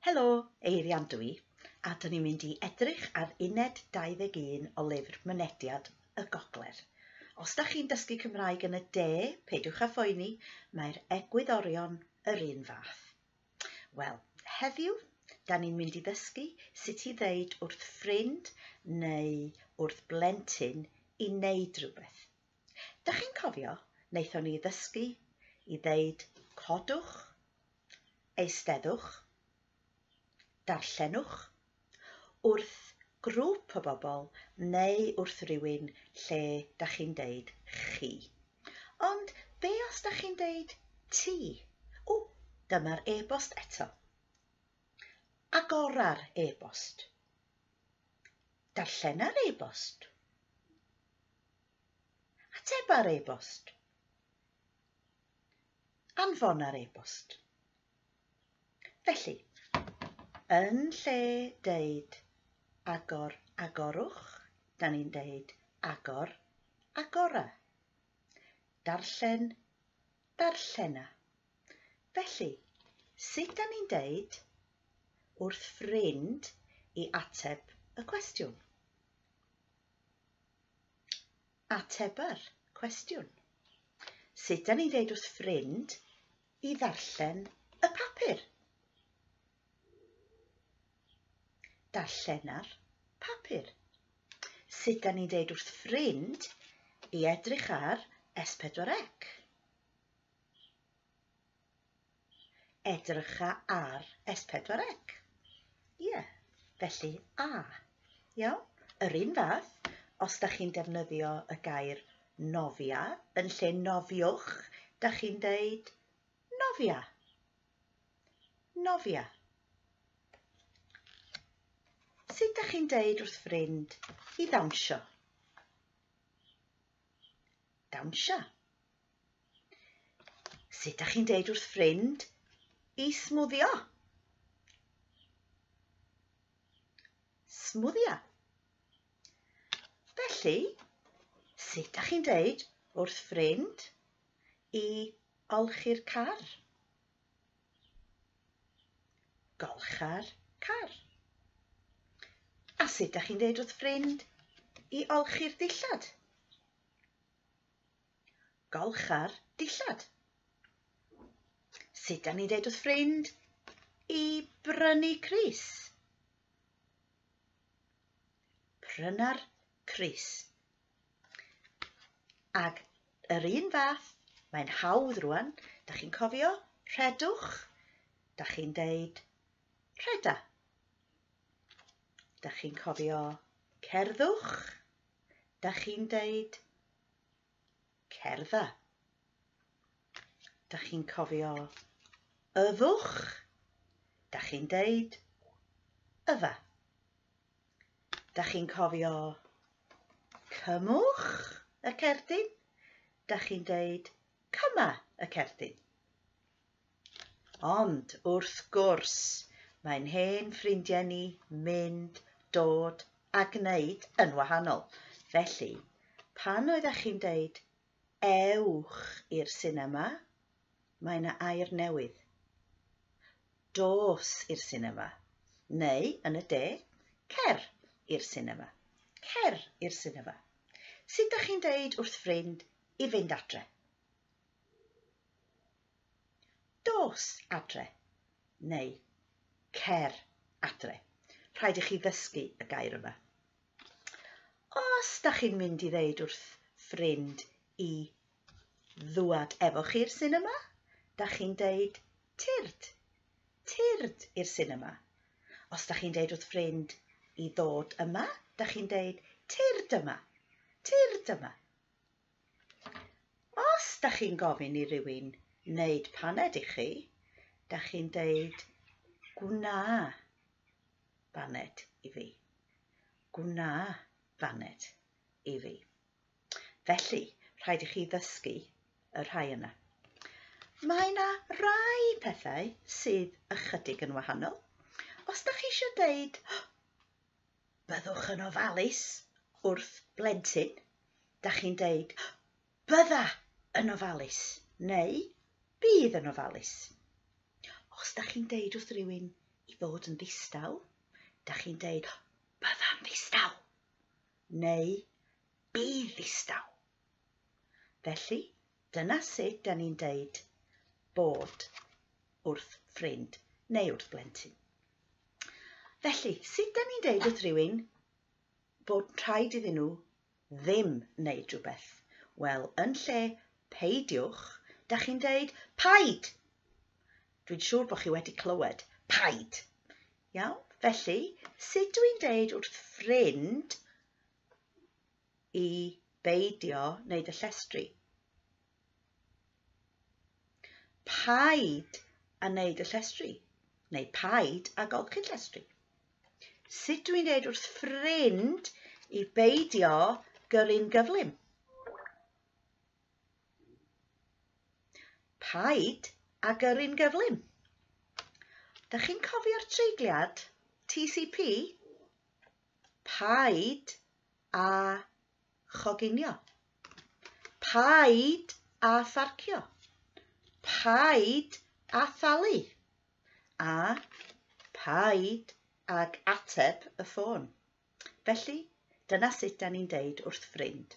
Helo, Eirian dwi, a dyn ni'n mynd i edrych ar uned 21 o lyfr Mynediad y Gogledd. Os da chi'n dysgu Cymraeg yn y de, peidiwch â phoeni, mae'r egwyddorion yr un fath. Wel, heddiw, da ni'n mynd i ddysgu sut i ddeud wrth ffrind neu wrth blentyn i wneud rhywbeth. Da chi'n cofio, wnaethon ni ddysgu i ddeud codwch, eisteddwch, darllenwch wrth grŵp o bobl neu wrth rywun lle da chi'n deud chi. Ond be os da chi'n deud ti? O, dyma'r e-bost eto. Agora'r e-bost. Darllena'r e-bost. Ateba'r e-bost. Anfona'r e-bost. Felly, yn lle deud agor, agorwch, da ni'n deud agor, agora. Darllen, darllena. Felly, sut da ni'n deud wrth ffrind i ateb y cwestiwn? Ateba'r cwestiwn. Sut da ni'n deud wrth ffrind i ddarllen y papur. Darllena'r papur. Sut da ni'n deud wrth ffrind i edrych ar S4C? Edrycha ar S4C. Ie, yeah. felly A. Iawn? Yr un fath, os da chi'n defnyddio y gair nofia yn lle nofiwch, da chi'n deud nofia. Nofia. Sut da chi'n deud wrth ffrind i ddawnsio? Dawnsio. Sut da chi'n deud wrth ffrind i smwddio? Smwddio. Felly, sut da chi'n deud wrth ffrind i olchi'r car? Golcha'r car. A sut da chi'n deud wrth ffrind i olchi'r dillad? Golcha'r dillad. Sut da ni'n deud wrth ffrind i brynu Cris? Pryna'r crys. Ac yr un fath, mae'n hawdd rwan, da chi'n cofio, rhedwch, da chi'n deud rheda. Da chi'n cofio cerddwch, da chi'n deud Cerddda. Da chi'n cofio yfwch? Da chi'n deud yfa. Da chi'n cofio cymwch y cerdyn? Da chi'n deud cyma y cerdyn. Ond, wrth gwrs, mae'n hen ffrindiau ni mynd, dod a gwneud yn wahanol. Felly, pan oeddech chi'n deud 'ewch i'r sinema', mae 'na air newydd. Dos i'r sinema. Neu, yn y de, cer i'r sinema. Cer i'r sinema. Sut dych chi'n deud wrth ffrind i fynd adre? Dos adre neu Cer adre. Rhaid i chi ddysgu y gair yma. Os da chi'n mynd i ddeud wrth ffrind i ddwad efo chi i'r sinema, da chi'n deud tyrd, tyrd i'r sinema. Os da chi'n deud wrth ffrind i ddod yma, da chi'n deud tyrd yma, tyrd yma. Os da chi'n gofyn i rywun wneud paned i chi, da chi'n deud gwna baned i fi. Gwna baned i fi. Felly, rhaid i chi ddysgu y rhai yna. Mae yna rai pethau sydd ychydig yn wahanol. Os da chi eisiau deud, Byddwch yn ofalus wrth blentyn. Da chi'n deud, bydda yn ofalus, neu bydd yn ofalus. Os da chi'n deud wrth rywun i fod yn ddistaw, da chi'n deud, bydda'n ddistaw, neu bydd ddistaw. Felly, dyna sut da ni'n deud bod wrth ffrind neu wrth blentyn. Felly, sut da ni'n deud wrth rywun bod rhaid iddyn nhw ddim wneud rhywbeth? Wel, yn lle peidiwch, da chi'n deud paid. Dwi'n siŵr bod chi wedi clywed paid. Iawn? Felly, sut dwi'n deud wrth ffrind i beidio wneud y llestri. Paid a wneud y llestri, neu paid a golchi llestri. Sut dwi'n dweud wrth ffrind i beidio gyrru'n gyflym? Paid a gyrru'n gyflym. Da chi'n cofio'r treigliad? TCP? Paid a choginio. Paid a pharcio. Paid a thalu. A paid ag ateb y ffôn. Felly, dyna sut da ni'n deud wrth ffrind.